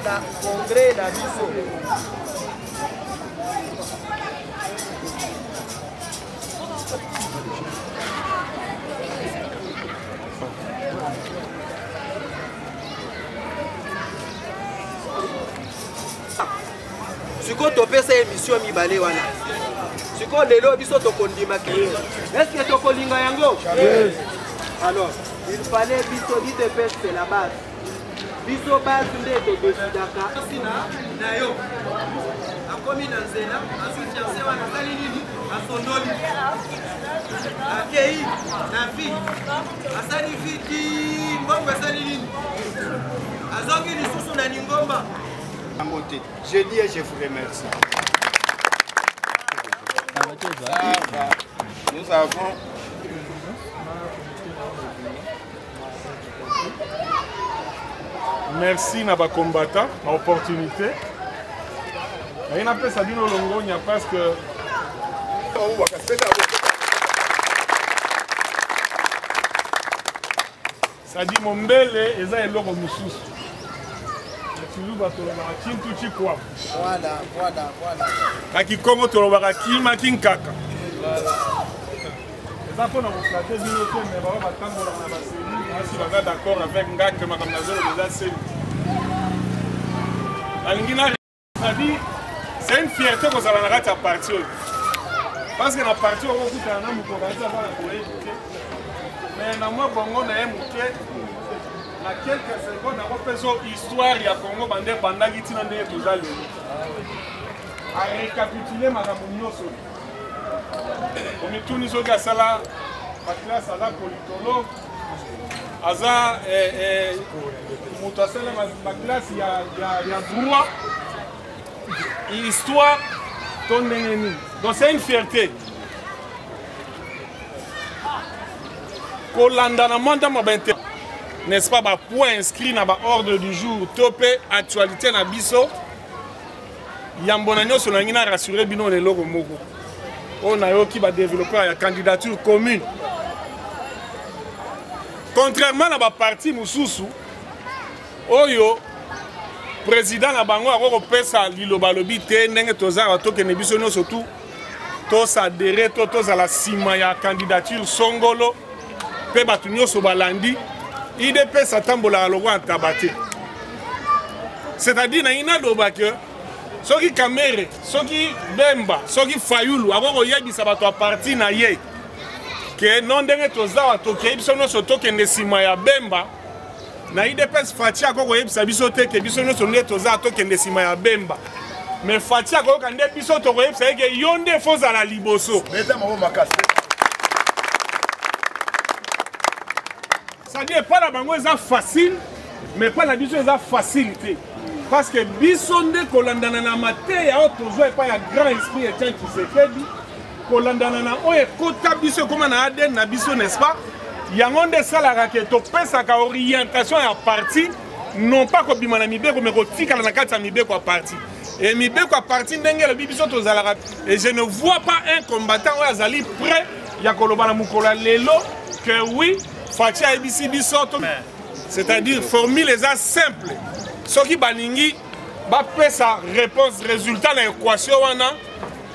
na congrès na biso sikoyo topesa emisio mibale wana sikoyo lelo biso tokondima kee eske tokolinga yango alors il fallait biso dite peste la base biso basi nde todesidaka kasi na na yo akomi na nzela azwi fianse wana asali nini asondoli akei na vi asali vi ti mbongo esali nini azongi lisusu na lingomba yango te je dis et je vous remercie nous avons merci na bakombata na opportunité naye napesa bino longonya parce que sadi mombele eza eloko mosusu kiluba tolobaka kintu cikwabu na kikongo tolobaka kima kinkaka eza mpo na koflate bino te me baoyo batambolaka na baseli basi baza d'accord avec nga ke makambo nazoloba eza seli nalingi na sadi c'est une fierté kozala na kati ya parti oyo parce que na parti oyo okokutana na moto okanisi aza na boye moke mais na mwa bongo na ye moke na quelques secondes akopesa histoire ya congo bande ebandaki ntina ndenge toza lelo arecapitule makambo nyonso omituni soki asala baklasse aza politologue aza eh, eh, moto asala baklasse ya droit histoire to ndenge nini donc c'est une fierté kolanda na manda ma bainter n'est-ce pas bapoint inscrit na baordre du jour to mpe actualité na biso yambo na nyonso nalingi na rassure bino na eloko moko oyo nayoki badeveloppeur ya candidature commune contrairement na baparti mosusu oyo président na bango akoki kopesa liloba alobi te ndenge tozalaka tokende biso nyonso tu tosadere to tozala nsima ya candidature songolo mpe bato nyonso balandi idps atambolaka lokola ntaba te c'est-à-dire nayi naloba ke soki kamere soki bemba soki fayulu akoki koyebisa bato ya parti na ye ke no ndenge tozawa tokei biso nyonso tokende nsima ya bemba na idps fati akoki koyebisa biso te ke biso nyonso nde toza tokende nsima ya bemba me fati akoyoka nde biso tokoyebisa ye ke yo nde fo ozala liboso sadi epai na bango eza facile me epai na biso eza facile te parce que biso nde kolandana na mateya oyo tozwa epai ya grand esprit etian kisekedi kolandana na oyo ekota biso ekoma na adn na biso n'est-ce pas yango nde esalaka ke topesaka orientation ya parti non pas kobima na mibeko me kotikala na kati ya mibeko ya parti e mibeko ya parti ndenge elobi biso tozalaka e je ne vois pas un combattant oyo azali prêt ya koloba na mokolo ya lelo que oui faci ayebisi biso c'est-à-dire formule eza simple soki balingi bapesa réponse résultat na équation wana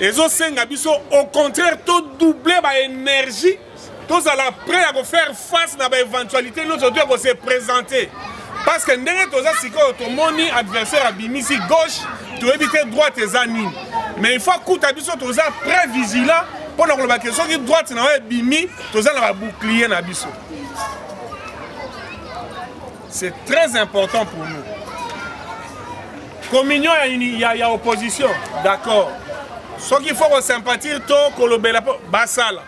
ezosenga biso au contraire todouble baénergie tozala prêt ya kofaire face na baéventualité nyonso to ya kose présente parce que ndenge toza sikoyo tomoni adversaire abimisi gauche toyebi te droite eza nini mais il faut akuta biso toza prêt vigilant mpo na koloba ke soki droite na yo ebimi toza na babouclier na biso c'est très important pour nous communion ya, ya, ya opposition d'accord soki faut kosympathie to kolobela mpo basala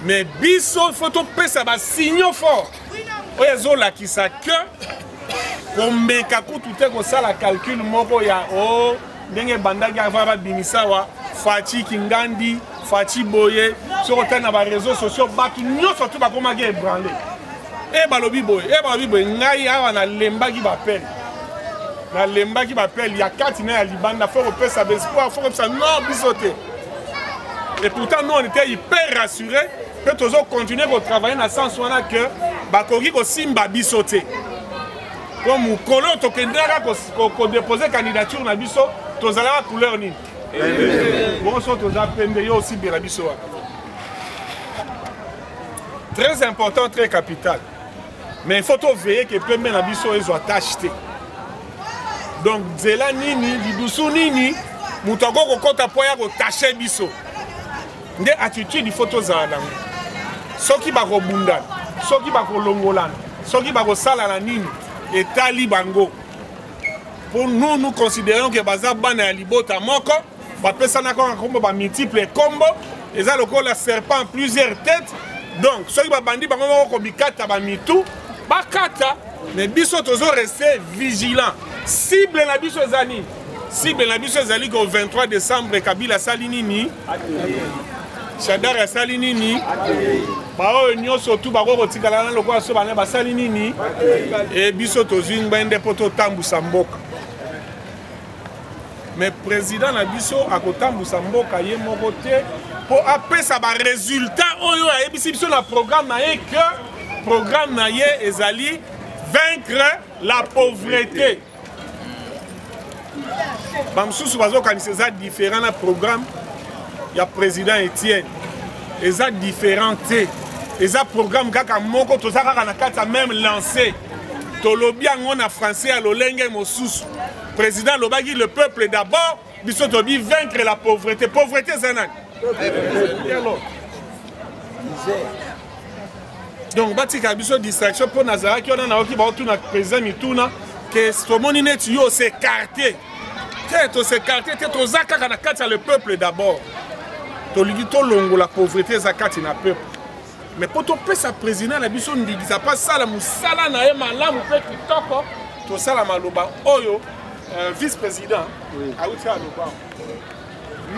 mais biso faut topesa basignaux fort oyo ezolakisa que komeka kutu te kosala calcul moko ya o oh, ndenge ebandaki avant babimisa awa faci kingandi faci boye soki otali na bareseau sociaux bato nyonso tu bakomaki ebranle e eh, balobi boye e balobi boye ngai awa nalembaki bapele nalembaki bapele ya kati na ya libanda fo kopesa bespoir fo kopesa non biso te et pourtant nous on était hyper rassuré mpe tozokontinue kotravaille na sens wana ke bakoki kosimba biso te po mokolo oyo tokendaka kodepose candidature na biso tozalaka couleur nini bonso toza pembe yo osibela biso wana très important très capital mais il faut toveille ke pembe na biso ezwa tache te donc nzela nini lidusu nini moto akoki kokɔta mpo ya kotache biso nde attitude ifo tozala nango soki bakobundana soki bakolongolana soki bakosalana nini etali bango mpo nous nous considérons ke baza bana ya libota moko bapesana kaka nkombo bamultiple nkombo eza lokola serpent plusieurs têtes donc soki babandi bango moko komikata bamitu bakata mais biso tozo reste vigilant cible na biso eza nini cible na biso ezali ko 23 décembre kabila asali nini shadari asali nini baoyo nyonso tu bakoki kotikala na lokola so bana basali nini e biso tozwi ngbende mpo totambwisa mboka mais président na biso akotambwisa mboka ye moko te mpo apesa baresultat oyo ayebisi biso na programme na ye que programme na ye ezali vaincre la pauvreté bamosusu bazokanisa eza différent na programme ya président etienne eza différent te eza programme kaka moko toza kaka na kati ya même lancé tolobi yango na français ya lolenge mosusu président alobaki le peuple d'abord biso tobi vaincre la pauvreté pauvreté eza nani donc batika biso distraction mpo nazalaki wana nayoki baotuna président mituna ke tomoni neti yo osekarte te tosekarte te toza kaka na kati ya le peuple d'abord tolingi tolongola pauvreté eza kati na peuple mais mpo topesa président na biso ndingisa mpo asala mosala na ye malamu mpe kitoko tosala maloba oyo euh, vice président awuti aloba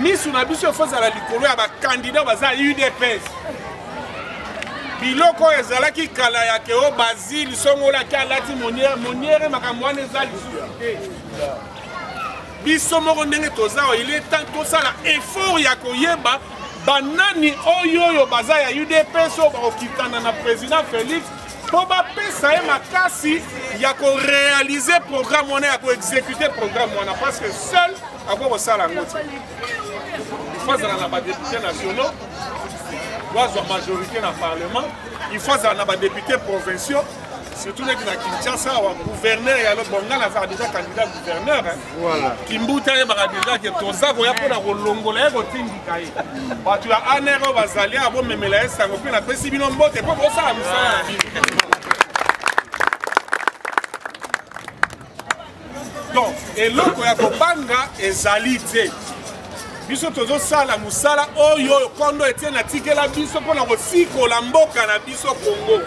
misu na biso efo ezala likolo ya bakandidat baza udps biloko oyo ezalaki kala ya keo bazili songolaki alati moniere moniere makambo wana eza lisusu te biso moko ndenge toza oyo ile ntango tosala effort ya koyeba banani oyo oyo baza ya udps oyo bakokitana na président félix mpo bapesa ye makasi ya korealize programme wana ya koexécute programme wana parce que seul akoki kosala yango te il faut azala na badepute nationaux wazwa majorité na parlement il faut azala na badepute provinciaux surtout neti na kinshasa awa gouverneur ya lo bonga nazaka deja candidat gouverneur kimbuta ayebaka deja ke toza koya mpo na kolongola ye kotindika ye bato ya aner oyo bazali awa bomemela ye sango mpe napesi bino mbote mpo bosala mosala na bino donc eloko ya kobanga ezali te biso tozosala mosala oyo oyo kondo etiene atikela biso mpo na kosikola mboka na biso kongo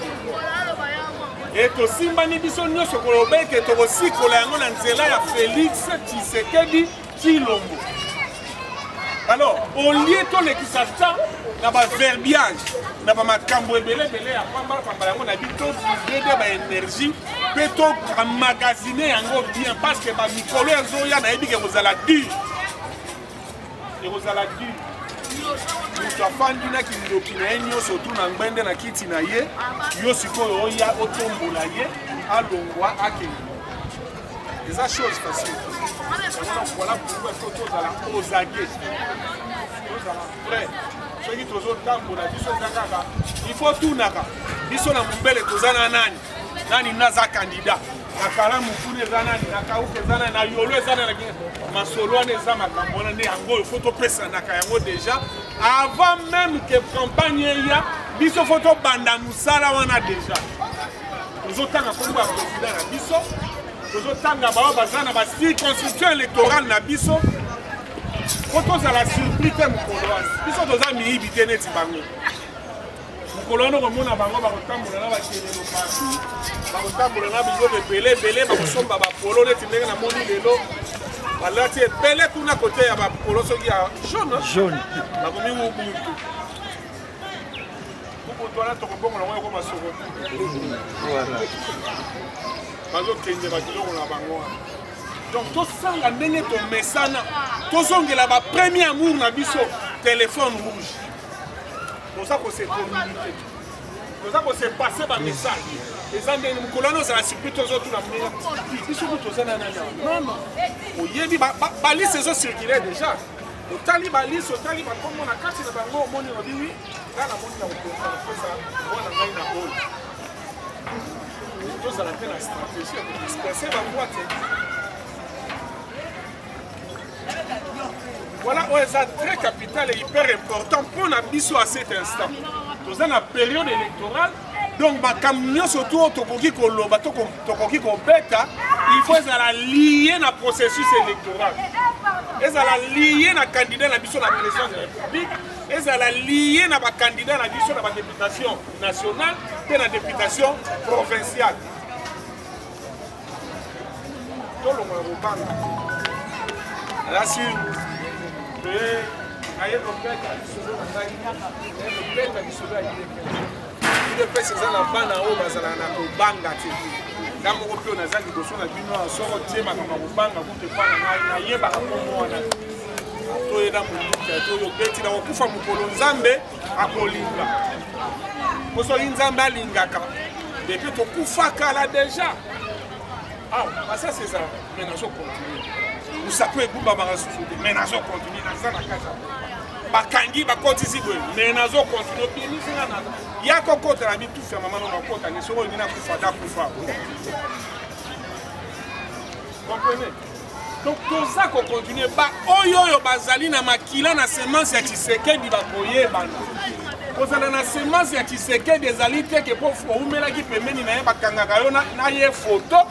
e tosimbani biso nyonso koloba ete tokosikola yango na nzela ya felix tshisekedi Tshilombo. Alors, au lieu tolekisa temps na ba verbiage na ba makambo ebele ebele ya pamba pamba yango na bito tozede ba énergie mpe tomagasine yango bien parce que ba mikolo ezoya nayebi ke ekozala dur ekozala dur moto afandi na kindoki na ye nyonso tu na ngbende na kiti na ye yo sikoyo oya otombola ye alongwa akende eza chose facile omona voilà pourquoi fo tozala ozage tozala vrai soki tozotambola biso eza kaka il faut tunaka biso na mombele toza na nani nani naza candidat na kalamu kuna eza nani na kauka eza nani na yolo eza nani masolo wana eza makambo wana nde yango oyo fo topesanaka yango déjà avant même que campagne eya biso fo tobanda mosala wana déjà tozotanga nkombo ya president na biso tozotanga baoyo baza na bacirconstruction électorale na biso mpo tozala surpris te mokolo wana biso toza miyibi te neti bango mokolo wana okomona bango bakotambola na bakelelo pasi bakotambola na biloko ebele ebele bakosomba bapolo neti ndenge namoni lelo balati ebele kuna kote ya bapolo soki ya jaune bakomi mubutu Kukutu wana tokobongola yango ekoma soko bazokende bakiloko na bango wana donc tosala ndenge tomesana tozongela bapremier amour na biso telefone rouge toza kose communike toza kose passe bamessage eza ndenge mokolo wana ozala surpris tozotuna mnea biso kutu toza na nani nono oyebi balise ezocircule déjà otali balise otali bakombo na kati na bango omoni obi wi nga namoni na kokoka kopesa mwana ngai na bolo tozala mpe na stratégie ya kodisperse bangwa te voilà oyo eza très capital et hyper important mpo na biso à cet instant toza na période électorale donc makambo nyonso to tokoki koloba to tokoki kobeta il faut ezala lie na processus électoral ezala lie na candidat na biso na présidence de la république ezala lie na bakandida na biso na badeputation nationale mpe na deputation provinciale tolongo ya kobanga asure mpe naye kobeta lisolo na ngai naye kobeta lisolo ya udps eza na bana oyo bazalaka na kobanga te nga moko mpe oyo naza liboso na bino ya soko tie makambo ya kobanga kutu epa na ngai nayebaka kombo wana toye na monduka toyo beti na kokufa mokolo nzambe akolinga po soki nzambe alingaka epe tokufaka la deja awa ah, basasi ezala me nazo continue mosapo egumbamaka susu te me nazo continue naza na kati ya bakangi bakotisi boye me nazo continue obimisinga na ya kokota na mitufi ya mama no nakota ni soko olingi nakufa dakufa comprenez donc toza kokontinue baoyo oyo bazali na makila na semence ya tshisekedi bakoyebana kozala na semence ya tshisekedi ezali te ke mpo oumelaki pembeni na ye bakangaka yo na ye foto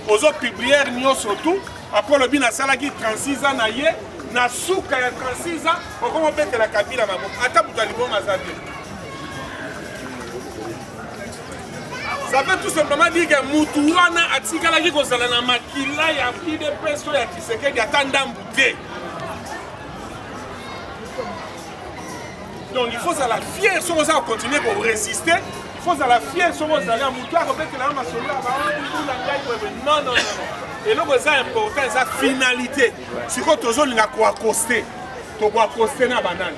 ozopubliere nyonso tu apres olobi nasalaki 36 ans na ye na suka ya 36 ans okoma obetela kabila maboko ata moto ya liboma aza te ça veut tout simplement dire que mutu wana atikalaki kozala na makila ya udps oyo ya kisekedi ata ndambu te donc il faut ozala fier soki oza kocontinue koresiste il faut ozala fier soki ozali ya mutu akobetela yo masolo ya baola ngai boye non non non eloko eza important eza finalité sikoyo tozolinga koakoste tokoakoste na banani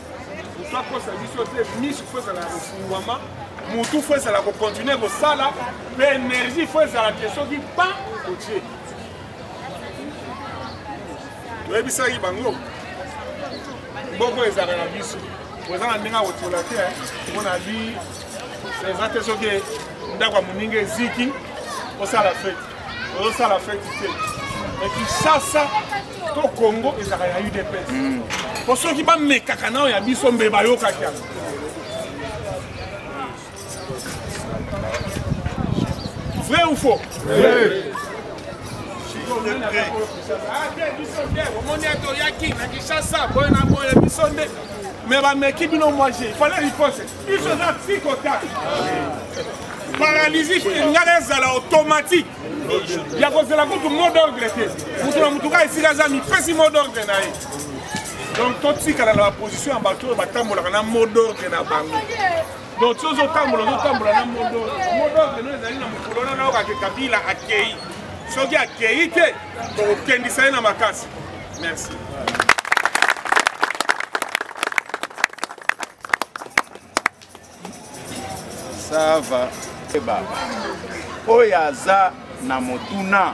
moto akosa biso te misu fo ezala kofungwama motu fo ezala kokontinue kosala mpe energie fo ezala te soki pa kotie toyebisaki bango boko ezalaka na biso oza na ndenge ya kotola te eh. mpo na bi eza te soki ndako ya moninga eziki osala feti ozosala feti te ekisasa to congo ezalaka ya udps hmm. po soki bamekaka nao ya biso mbe bayokaki yango vrai ou faux omoni ete oyaki na kinshasa boye na boye biso nde me bameki bino moise ifale riposte biso eza psikotake paralysie engala ezala automatique ya kozela kutu mot d'ordre te moto na motuka esika aza mipesi mot d'ordre na ye donc totikala na baposition ya bato oyo batambolaka na mot d'ordre na bango donc ti ozotambola ozotambola na mot d'ordre mot d'ordre no ezali na mokolo na nayoka ke kabila akei soki akei te tokokendisa ye na makasi merci sava ebaba oyo aza na motuna